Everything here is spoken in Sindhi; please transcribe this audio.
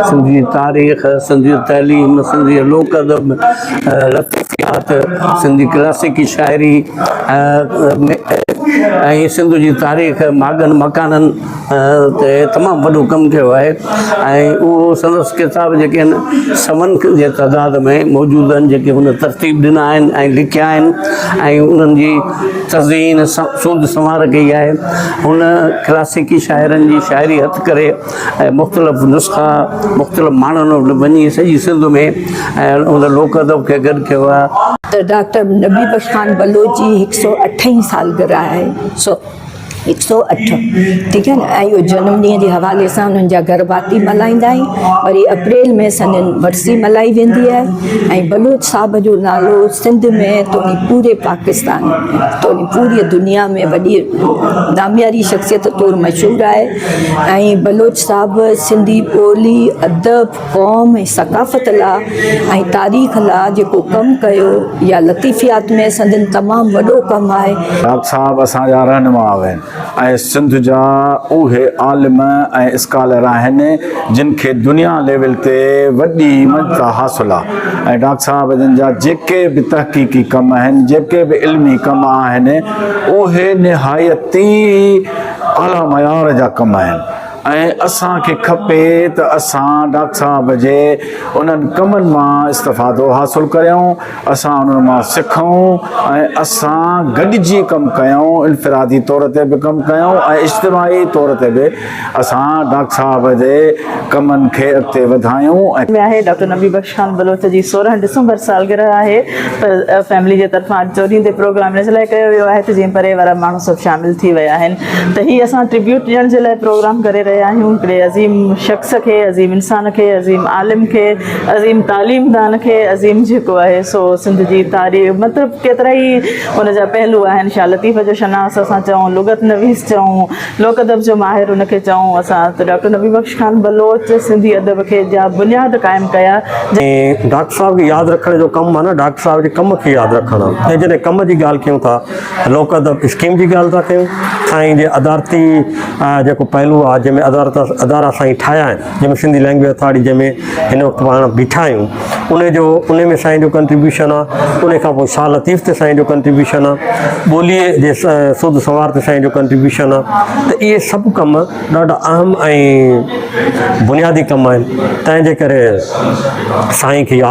سنڌي تاريخ، سنڌي تعليم، سنڌي لوڪ ادب، لطيفيات، سنڌي ڪلاسيڪي شاعري ۽ سنڌ جي تاريخ ماڳن مڪانن تي تمام وڏو ڪم ڪيو آهي ۽ اهو سندس ڪتاب جيڪي آهن سون جي تعداد ۾ موجود آهن جيڪي هن ترتيب ڏنا آهن ۽ لکيا آهن ۽ انهن جي تزئين سوڌ سنوار ڪئي آهي هن ڪلاسيڪي شاعرن جي شاعري هٿ ڪري ۽ مختلف نسخا مختلف ماڻهن وٽ وڃي سڄي سنڌ ۾ ۽ ان لوڪ ادب کي گڏ ڪيو آهي. ته ڊاڪٽر نبي بخش خان بلوچ جي هڪ سؤ اٺ هين سالگرهه آهي سو هڪ سؤ اٺ ٺيڪ آهي نه ۽ اهو جنم ڏينهن جي حوالي سان انهن جا گهر ڀاتي ملهائيندا آهي وري اپريل ۾ سندن ورسي ملهائي ويندي آهي ۽ بلوچ صاحب جو نالو سنڌ ۾ توڻي پوري پاڪستان ۾ توڻي پوري دنيا ۾ وڏي نامياري شخصيت طور مشهور آهي. ۽ بلوچ صاحب سنڌي ٻولي، ادب، قوم ۽ ثقافت لا۽ تاريخ لا جيڪو ڪم ڪيو يا لطيفيات ۾ سندن تمام وڏو ڪم آهي. ڊاڪٽر صاحب اسان جا رهنما آهن ۽ سنڌ جا اهي عالم ۽ اسڪالر آهن جن کي دنيا ليول تي وڏي مڃتا حاصل آ۽ ڊاڪٽر صاحب جن جا جيڪي به تحقيقي ڪم آهن جيڪي به علمي ڪم آهن اهي نهايت ئي اعليٰ معيار جا ڪم آهن ۽ اسان کي کپي ته اسان ڊاڪٽر صاحب جي انهن ڪمن مان استفادو حاصل ڪريون، اسان انهن مان سکون ۽ اسان گڏجي ڪم ڪيون، انفرادي طور تي به ڪم ڪيون ۽ اجتماعي طور تي به اسان ڊاڪٽر صاحب جي ڪمن کي اڳتي وڌايون ۽. ۾ آهي، ڊاڪٽر نبي بخش شان بلوچ جي سورهن ڊسمبر سالگرهه آهي پر فيملي جي طرفان آڊيٽوريم تي پروگرام ان لاء ڪيو ويو آهي ته جيئن پري وارا ماڻهو سڀ شامل ٿي ويا آهن ته هي اسان ٽريبيوٽ ڏيڻ جي لاء پروگرام ڪري رهيا آهيون هڪڙي عظيم شخص کي عظيم انسان کي عظيم عالم کي عظيم تعليم دان کي عظيم جيڪو آهي سو سنڌ جي تاريخ مطلب ڪيترا ئي ان جا پهلو آهن شاهه لطيف جو شناس اسان چئون لغت نويس چئون لوڪ ادب جو ماهر ان کي چئون اسان ته ڊاڪٽر نبي بخش خان بلوچ سنڌي ادب کي جا بنياد قائم ڪيا جن ڊاڪٽر صاحب کي ياد رکڻ جو ڪم معنيٰ ڊاڪٽر صاحب جي ڪم کي ياد رکڻ ۽ جڏهن ڪم جي ڳالهه ڪيون ٿا ته لوڪ ادب اسڪيم جي ڳالهه ٿا ڪيون سائين جي ادارتي جيڪو پهلو آهي جنهن ۾ ادارتا ادارا سائين ٺاهيا آهن جنهن ۾ سنڌي لينگويج اٿارٽي جنهن ۾ هن وقت پاڻ بيٺا آهيون ان جو ان ۾ سائين جو ڪنٽريبيوشن آهي ان کان پوء شاهه لطيف تي سائين جو ڪنٽريبيوشن آهي ٻوليء جي سوڌ سوار تي سائين جو ڪنٽريبيوشن آهي ته اهي سڀ ڪم ڏاڍا اهم ۽ بنيادي ڪم آهن تنهنجي ڪري سائين کي ياد